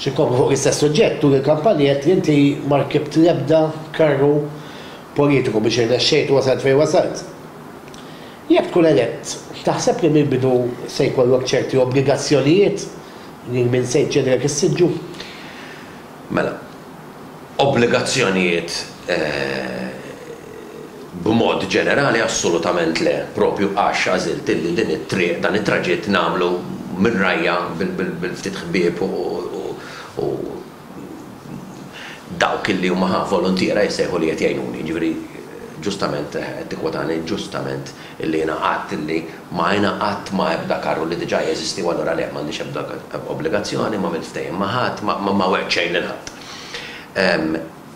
Xi kopja fuq l-istess suġġett turi l-kampanji għedt li inti ma rkibt l-ebda karru politiku biex irnexxejt u wasalt fejn wasalt. Jekk tkun elett, taħseb li mill-bidu se jkollok ċerti obbligazzjonijiet lil min se jċedilek is-siġġu? Mela. Obbligazzjonijiet B'mod ġenerali assolutament le, propju għax għażilt illi din it-triq, dan it-traġitt nagħmlu minn rajja bil-ftit ħbieb u dawk illi huma ħa voluntiera jissejħu li qed jgħinuni. Jiġifieri ġustament qed tikkwotani, ġustament illi jiena għidt illi Ma ingħaqadt ma' ebda karru li diġà jeżisti u allura le, m'għandix ebda obbligazzjoni, m'għamilt ftehim ma' ħadd, ma wegħdt xejn lil ħadd.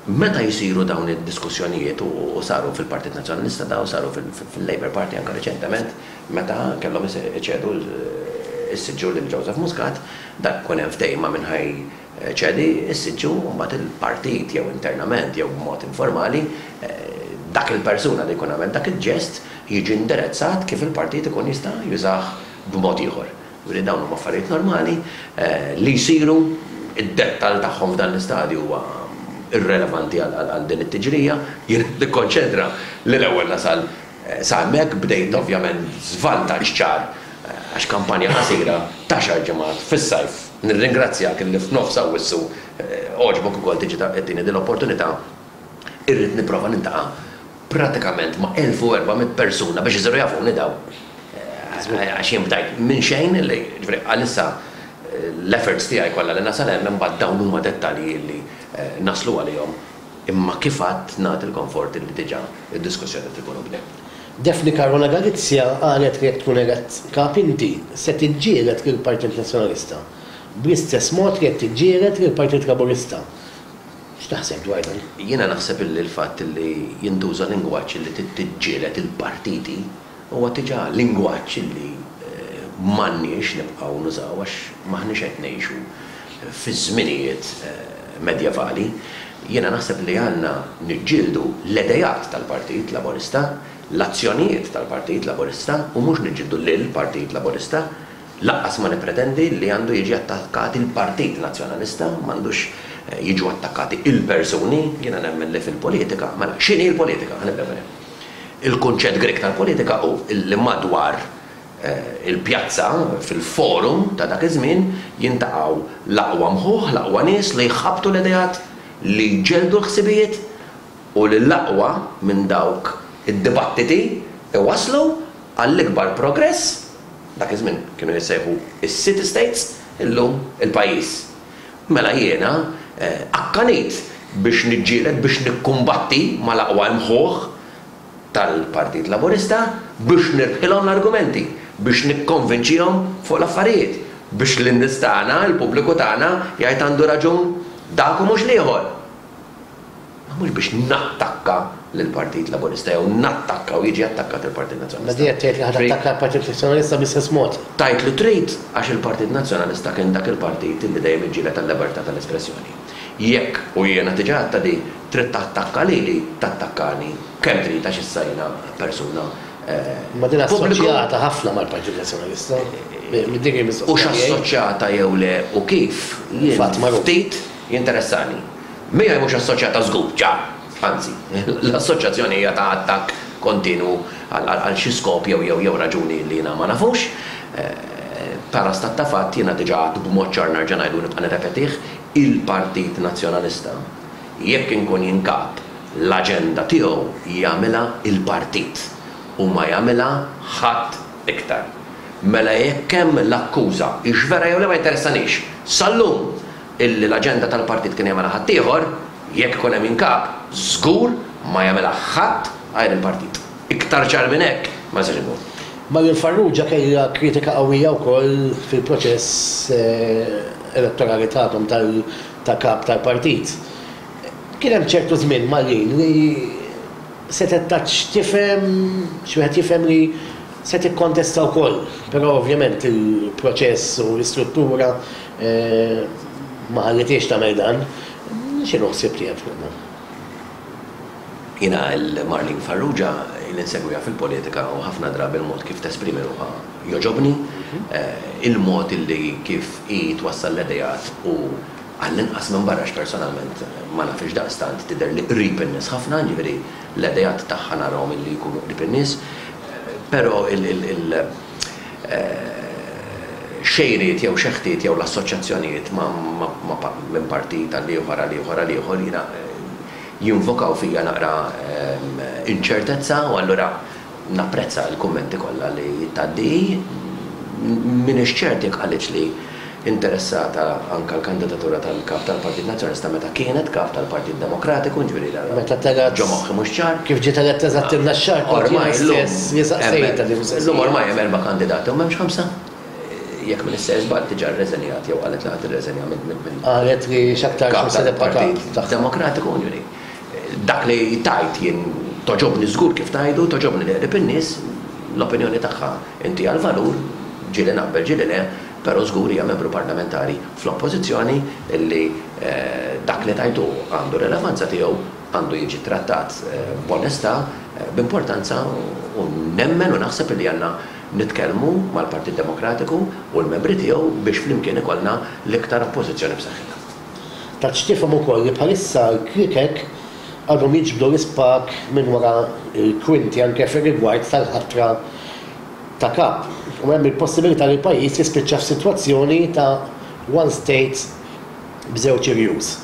Meta jsiru dawn id-diskussjonijiet, u saru fil-Partit Nazzjonalista dawn, saru fil-Labour Party anke riċentement meta kellhom iċedu s-siġġu lil Joseph Muscat, dak ikun hemm ftehim ma' min ħa Ċedi, issiġġu, u mbagħad il-partit jew internament jew b'mod informali, dak il-persuna li jkun għamel dak il-ġest jiġi indirezzat kif il-partit ikun jista' jużah b'mod ieħor. Jiġifieri dawn huma affarijiet normali li jsiru, id-dettall tagħhom f'dan l-istadju huwa irrelevanti għal din it-tiġrija. Jien qed nikkonċentra li l-ewwel nasal sa hemmhekk. Bdejt ovvjament b'żvantaġġ ċar għax kampanja qasira ta' xar ġimgħat fis-sajf. Nirringrazzjak illi f'nofs Awwissu għoġbok ukoll tiġi tagħtini din l-opportunità. Irrid nipprova niltaqa' pratikament ma' 1,400 persuna biex isiru jafuni dawn. Għax jien bdajt minn xejn, jiġifieri għalissa l-efforts tiegħi kollha li nasal hemm imbagħad dawn huma dettalji illi naslu għalihom imma kif għadt nagħti l-konfort illi diġà d-diskussjoni qed tkun u bdiet. Daphne Caruana Galizia qalet li jekk tkun elett Kap inti se tiġġieled lill-Partit Nazzjonalista bl-istess mod li qed tiġġieled lill-Partit Laburista. X'taħseb dwar dan? Jiena naħseb illi l-fatt illi jintuża lingwaġġ illi trid tiġġieled il-partiti huwa diġà lingwaġġ illi m'għandniex nibqgħu nużaw għax m'aħniex qed ngħixu fiż-żminijiet medjevali, jiena naħseb li għandna niġġieldu l-idejat tal-Partit Laburista, l-azzjonijiet tal-Partit Laburista u mhux niġġieldu lill-Partit Laburista. Lanqas ma nippretendi li għandu jiġi attakkat il-Partit Nazzjonalista, m'għandux jiġu attakkati l-persuni. Jiena nemmen li fil-politika, mela x'inhi l-politika? Ħa nibdew minn hemm. Il-kunċett Grieg tal-politika hu li madwar il-pjazza, fil-forum ta' dak iż-żmien, jintaqgħu l-aqwa mħuħ, l-aqwa nies li jħabbtu l-ideat, li jġelldu l-ħsibijiet, u li l-aqwa minn dawk id-dibattiti jwasslu għall-ikbar progress, dak iż-żmien kienu jissejħu s-city states, illum il-pajjiż. Mela jiena akkanit biex niġġieled, biex nikkumbatti mal-aqwa imħuħ tal-Partit Laburista biex nirbħilhom l-argumenti, biex nikkonvinċihom fuq l-affarijiet, biex lin-nies tagħna, il-pubbliku tagħna jgħid għandu raġun dak u mhux l-ieħor. Ma mhux biex nattakka lill-Partit Laburista jew nattakka u jiġi attakkat il-Partit Nazzjonalista. B'din qed tgħid li ħa tattakka l-Partit Nazzjonalista bl-istess mod? Tgħid li trid għax il-Partit Nazzjonalista kien dak il-partit li dejjem iġġieled għal-libertà tal-espressjoni. Jekk, u jiena diġà għedtha din, trid tattakka lili, tattakkani kemm trid għax issa jiena persuna pubblika. Imma din assoċjata ħafna mal-Partit Nazzjonalista. Dik hi l-mistoqsija tiegħi. Hux assoċjata jew le u kif, jien ftit jinteressani. Miegħi mhux assoċjata żgur, ċar. Anzi, l-assoċjazzjoni hija ta' attakk kontinwu għal xi skop jew raġuni li jiena ma nafux. Bħala stat ta' fatt, jiena diġà għedt b'mod ċar nerġa' ngħidu u nibqa' nirrepetih, il-Partit Nazzjonalista jekk inkun jien Kap, l-aġenda tiegħu jagħmilha l-Partit u ma jagħmilha ħadd iktar. Mela jekk hemm l-akkuża hix vera jew le ma jinteressanix. Sal-lum Illi l-aġenda tal-partit kien jagħmilha ħaddieħor, jekk ikun hemm inkap, żgur ma jagħmilha ħadd għajr il-partit. Iktar ċar minn hekk ma jistax ikun. Marian Farrugia kellha kritika qawwija wkoll fil-proċess elettorali tagħkom ta' kap tal-partit. Kien hemm ċertu żmien, Marian, li setgħet tgħid x'tifhem, x'wieħed jifhem li se tikkontesta wkoll, però ovvjament il-proċess u l-istruttura Ma ħallitiex tagħmel dan. X'inhu ħsieb li hemm f'moħħna? Jiena għal Marlene Farrugia li nsegwiha fil-politika u ħafna drabi l-mod kif tesprimi ruħha jogħġobni. Il-mod li kif hi twassal l-ideat u għallinqas minn barra għax personalment ma nafhiex daqstant tidherli qrib in-nies ħafna, jiġifieri l-ideat tagħha narahom li jkunu qrib in-nies. Però il. xejriet jew xeħtiet jew l-assoċjazzjonijiet ma' minn partit għal ieħor għal ieħor għal ieħor jiena jinvokaw fija naqra inċertezza u allura napprezza l-kummenti kollha li tgħaddi hi. M'iniex ċert jekk qalitx li interessata anke l-kandidatura tal-Kap tal-Partit Nazzjonalista meta kienet Kap tal-Partit Demokratiku, jiġifieri dan Meta telgħet? ġo moħħi mhux ċar. Kif ġiet eletta eżatt ilna x-xahar kont jiena Ormai llum stess li saqsejtha din hemm, il-mistoqsija. llum ormai hemm erba' kandidati u m'hemmx ħamsa? Jekk m'inix se żball diġà rreżenjat jew qalet li ħa tirreżenja minn Qalet li x'aktarx Kap minn se tibqa' Kap tal-Partit tagħha. Demokratiku, jiġifieri. Dak li tgħid jien togħġobni żgur kif tgħidu, togħġobni li qrib in-nies, l-opinjoni tagħha intiha l-valur, ġieli naqbel ġieli le, però żgur hija membru parlamentari fl-Oppożizzjoni li dak li tgħid hu għandu r-relevanza tiegħu, għandu jiġi ttrattat b'onestà, b'importanza u nemmen u naħseb li għandna nitkellmu mal-Partit Demokratiku u l-membri tiegħu biex flimkien ikollna l-iktar Oppożizzjoni b'saħħitha. Tatx tifhem ukoll li bħalissa l-Krikek għadhom jiġbdu l-ispak minn wara l-kwinti anke fir-rigward tal-ħatra ta' Kap u hemm il-possibilità li l-pajjiż jispiċċa f'sitwazzjoni ta' one state b'żewġ irjus.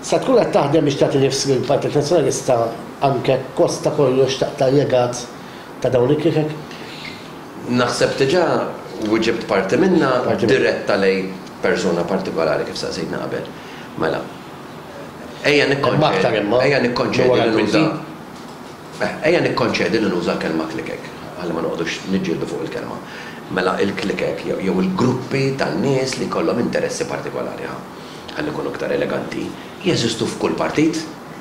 Se tkun qed taħdem biex tagħti nifs lill-Partit Nazzjonalista anke kosta kollox taqta' l-legat ta' dawn il-Krikek? Naħseb diġà wiġibt parti minnha diretta lejn persuna partikolari kif staqsejtni qabel. Mela, ejja nikkonċedi li nuża l-kelma klikek, ħalli ma noqogħdux niġġieldu fuq il-kelma. Mela, il-klikek jew il-gruppi tan-nies li jkollhom interessi partikolari, ħa, ħalli nkunu iktar eleganti, jeżistu f'kull partit,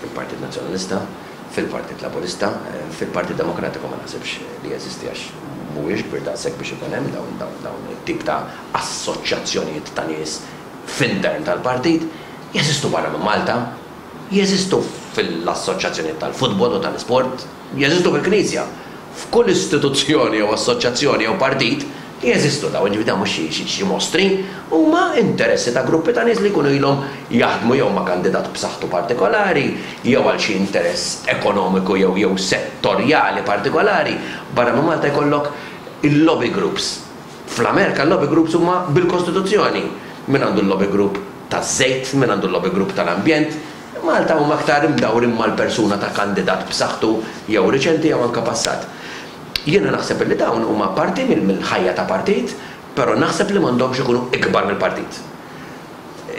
fil-Partit Nazzjonalista, Fil-Partit Laburista. Fil-Partit Demokratiku ma naħsibx li jeżisti għax mhuwiex kbir daqshekk biex ikun hemm dawn it-tip ta' assoċjazzjonijiet ta' nies f'intern tal-partit. Jeżistu barra minn Malta. Jeżistu fil-assoċjazzjonijiet tal-futbol u tal-isport. Jeżistu fil-Knisja. F'kull istituzzjoni jew assoċjazzjoni jew partit. Jeżistu dawn, jiġifieri dawn mhux xi xi mostri, huma interessi ta' gruppi ta' nies li jkunu ilhom jaħdmu jew ma' kandidat b'saħħtu partikolari jew għal xi interess ekonomiku jew jew settorjali partikolari. Barra minn Malta jkollok il-lobby groups. Fl-Amerika l-lobby groups huma bil-kostituzzjoni. Min għandu l-lobby group taż-żejt, min għandu l-lobby group tal-ambjent. Malta huma aktar imdawrin mal-persuna ta' kandidat b'saħħtu jew riċenti jew anke passat. Jiena naħseb illi dawn huma parti mill-ħajja ta' partit, però naħseb li m'għandhomx ikunu ikbar mill-partit.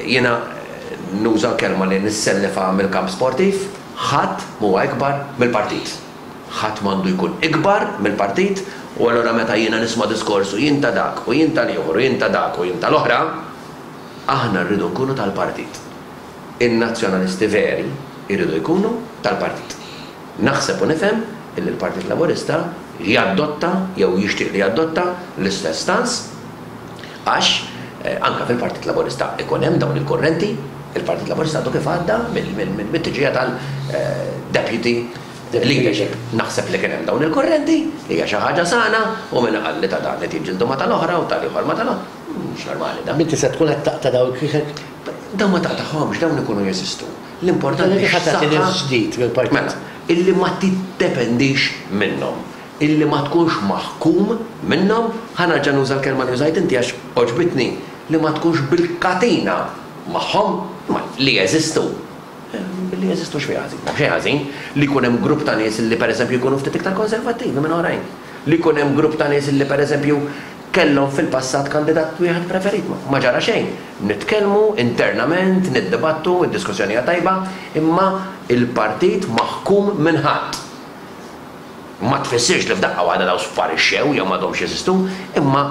Jiena nuża l-kelma li nissellifha mill-kamp sportiv, ħadd m'huwa ikbar mill-partit. Ħadd m'għandu jkun ikbar mill-partit u allura meta jiena nisma' diskors u jien ta' dak u jien tal-ieħor u jien ta' dak u jien tal-oħra, aħna rridu nkunu tal-partit. In-Nazzjonalisti veri jridu jkunu tal-partit. Naħseb u nifhem illi l-Partit Laburista jadotta jew jixtieq li jadotta l-istess stance għax anke fil-Partit Laburista ikun hemm dawn il-kurrenti. Il-Partit Laburista għadu kif għadda mit-tġija tal-Deputy Leadership. Naħseb li kien hemm dawn il-kurrenti, hija xi ħaġa sana u min qal li ta' dan qed jiġġieldu ma' tal-oħra u tal-ieħor ma' tal-oħra, mhux normali dan. Inti se tkun qed taqta' dawn il-kwiekek? Dawn ma taqtagħhomx, dawn ikunu jeżistu. L-importanti hi saħħa illi ma tiddependix minnhom, illi ma tkunx maħkum minnhom, ħa nerġa' nuża l-kelma li użajt inti għax għoġbitni, li ma tkunx bil-katina magħhom, imma li jeżistu. Billi jeżistu x'fi ħażin? M'hemm xejn ħażin li jkun hemm grupp ta' nies illi pereżempju jkunu ftit iktar konservattivi minn oħrajn, li jkun hemm grupp ta' nies illi pereżempju Kellhom fil-passat kandidat wieħed preferit, ma ġara xejn. Nitkellmu internament, niddibattu, id-diskussjoni hija tajba, imma l-partit maħkum minn ħadd. Ma tfissirx li f'daqqa waħda dawn sparixxew jew m'għadhomx jeżistu, imma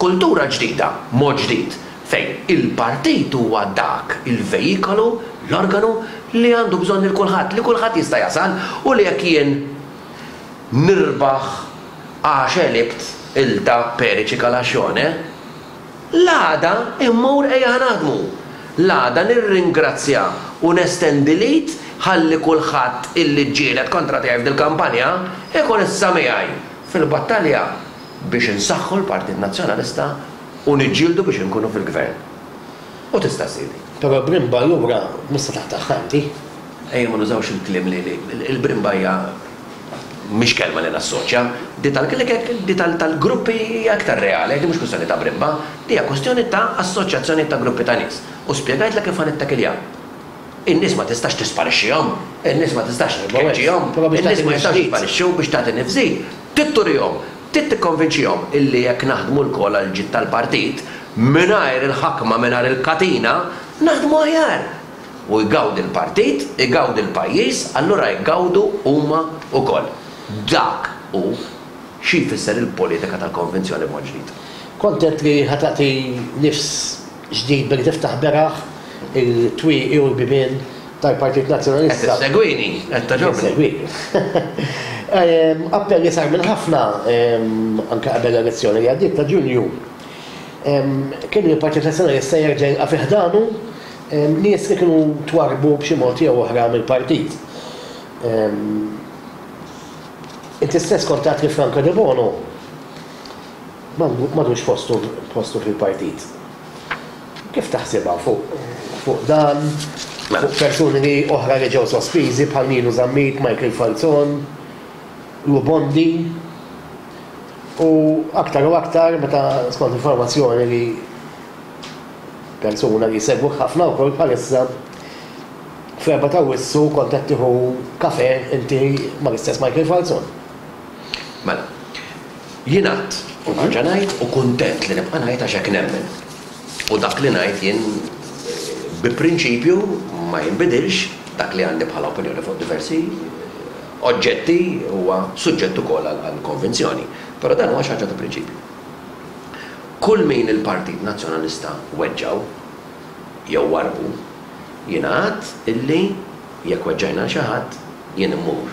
kultura ġdida, mod ġdid, fejn il-partit huwa dak il-vejikolu, l-organu li għandu bżonn lil kulħadd, li kulħadd jista' jasal u li jekk jien nirbaħ, Għax għelibt ilta perici calascione? L-għada immur ejja naħdmu! L-għada nirringrazzja u nestendi l-id ħalli kulħadd illi ġġieled kontra tiegħi f'dil kampanja ikun issa miegħi fil-battalja biex insaħħu l-Partit Nazzjonalista u niġġieldu biex inkunu fil-Gvern. U tista' ssirli. Però brimba allura mista' taħtaħħa inti? Ejja ma nużawx il-kliem li il-brimba hija mhix kelma li nassoċja. Di tal-klikek, di tal-gruppi hija iktar reali, di mhux kwistjoni ta' brimba, di hija kwistjoni ta' assoċjazzjonijiet ta' gruppi ta' nies. U spjegajtlek kif ħa nittakilja. In-nies ma tistax tisparixxihom, in-nies ma tistax tkeċċihom, in-nies ma jistgħux jisparixxu biex tagħti nifs-żid. Trid turihom, trid tikkonvinċihom illi jekk naħdmu lkoll għall-ġid tal-partit, mingħajr il-ħakma, mingħajr il-katina, naħdmu aħjar. u jgawdi l-partit, igawdi l-pajjiż, allura jgawdu huma wkoll. Dak hu xi jfisser il-politika tal-konvinzjoni b'mod ġdid. Kont għedt li ħa tagħti nifs ġdid billi tiftaħ beraħ il-twieqi u l-bibien tal-Partit Nazzjonalista. Qed issegwini? Qed togħġobni? Qed insegwik. Appell li sar minn ħafna anke qabel l-elezzjoni li għaddiet ta' Ġunju kien li l-Partit Nazzjonalista jerġa' jilqa' fi ħdanu, Nies li kienu twarrbu b'xi mod jew oħra mill-partit. Inti stess kont għedt li Franco Debono m'għadux postu fil-partit. Kif taħsibha fuq dan, fuq persuni oħra li ġew sospiżi bħal Nino Zammit, Michael Falzon, Lou Bondi u aktar u aktar meta skont informazzjoni li Persuna li jsegwuk ħafna wkoll bħalissa. Fl-Erbgħa t'Awwissu kont qed tieħu kafè inti mal-istess Michael Falzon. Mela. Jien għadt u nerġa' ngħid u kuntent li nibqa' ngħid għax hekk nemmen. U dak li ngħid jien bi prinċipju ma jinbidilx, dak li għandi bħala opinjoni fuq diversi oġġetti huwa suġġett ukoll għal konvinzjoni. Però dan huwa xi ħaġa ta' prinċipju. Kull min il-Partit Nazzjonalista weġġgħu, jew warrbu, jiena għedt illi jekk weġġajna 'l xi ħadd, jien immur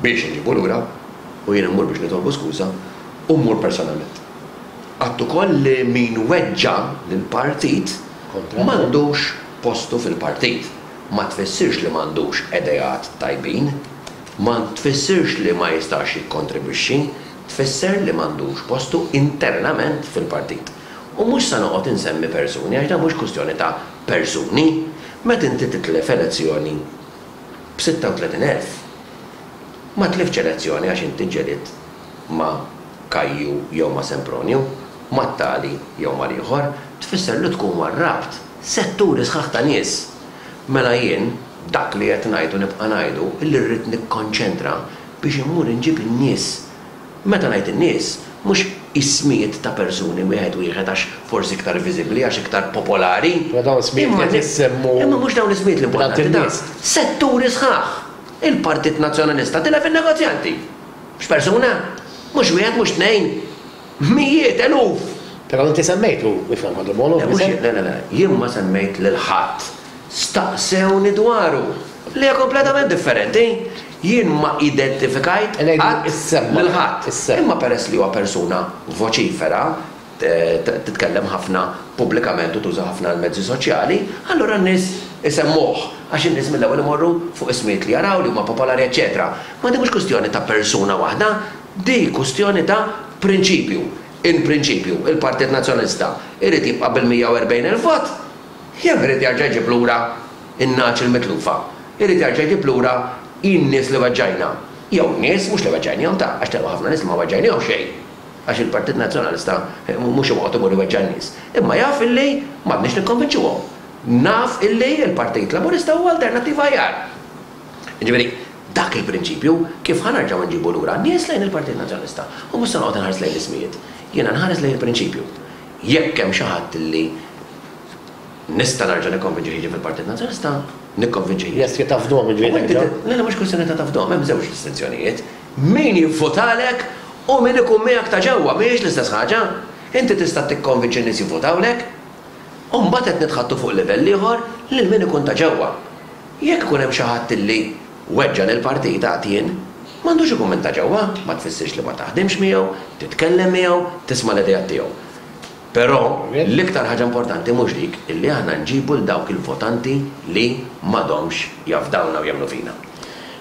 biex inġibu lura u jien immur biex nitolbu skuża u mmur personalment. Għedt ukoll li min weġġa' lill-Partit m'għandux postu fil-Partit. Ma tfissirx li m'għandux ideat tajbin. Ma tfissirx li ma jistax jikkontribwixxi. tfisser li m'għandux postu internament fil-partit. U mhux se noqgħod insemmi persuni għax dan mhux kwistjoni ta' persuni. Meta inti titlef elezzjoni b' 36 elf, ma tliftx elezzjoni għax inti ġġelidt ma' Kajju jew ma' Sempronju, mat-tali jew mal-ieħor, tfisser li tkun warrabt setturi sħaħ ta' nies. Mela jien dak li qed ngħid u nibqa' ngħidu li rrid nikkonċentra biex immur inġib in-nies. Meta ngħid in-nies, mhux ismijiet ta' persuni wieħed wieħed għax forsi iktar viżibbli, għax iktar popolari. Imma dawn ismijiet li qed issemmu. Imma mhux dawn l-ismijiet l-importanti, dan setturi sħaħ. Il-Partit Nazzjonalista tilef in-negozjanti. Mhux persuna. Mhux wieħed, mhux tnejn. Mijiet, eluf. Però inti semmejtu, ifhem Ħaġa Bolo, b'isem. Le, mhux le, le, le. Jien ma semmejt lil ħadd. Staqsewni dwaru. Li hija kompletament differenti. Jien ma identifikajt qatt lil ħadd, imma peress li huwa persuna voċifera, titkellem ħafna pubblikament u tuża ħafna l-mezzi soċjali, allura n-nies isemmuh, għax in-nies mill-ewwel imorru fuq ismijiet li jaraw, li huma popolari eċċetera. Ma din mhux kwistjoni ta' persuna waħda, di kwistjoni ta' prinċipju. In prinċipju, il-Partit Nazzjonalista jrid jibqa' bil-140,000 vot jew irid jerġa' jġib lura In-nagħaġ il-mitlufa jrid jerġa' jġib lura hi n-nies li weġġajna, jew in-nies mhux li weġġajnihom ta' għax telqu ħafna nies li ma weġġajnihom xejn, għax il-Partit Nazzjonalista mhux imqgħod imur iweġġa' n-nies, imma jaf illi m'għandniex nikkonvinċuhom. Naf illi l-Partit Laburista huwa alternattiva aħjar. Jiġifieri, dak il-prinċipju, kif ħa nerġgħu nġibu lura n-nies lejn il-Partit Nazzjonalista? U mhux se noqgħod inħares lejn l-ismijiet. Jiena nħares lejn il-prinċipju. Jekk hemm xi ħadd illi. Nista' nerġa' nikkonvinċi ħiġi fil-Partit Nazzjonalista, nikkonvinċi ħiġi. Lest li tafdhom il-ġlieda li għamiltha? Le, le, mhux kwistjoni ta' tafdhom, hemm żewġ distinzjonijiet. Min jivvotalek u min ikun miegħek ta' ġewwa, mhijiex l-istess ħaġa. Inti tista' tikkonvinċi n-nies jivvotawlek, u mbagħad qed nitħaddtu fuq livell ieħor lil min ikun ta' ġewwa. Jekk ikun hemm xi ħadd li weġġa' lill-Partit għatien, m'għandux ikun minn ta' ġewwa, ma tfissirx li ma taħdimx miegħu, titkellem miegħu, tisma' l-ideat tiegħu. Però, l-iktar ħaġa importanti mhux dik illi aħna nġibu 'l dawk il-votanti li m'għadhomx jafdawna u jemmnu fina.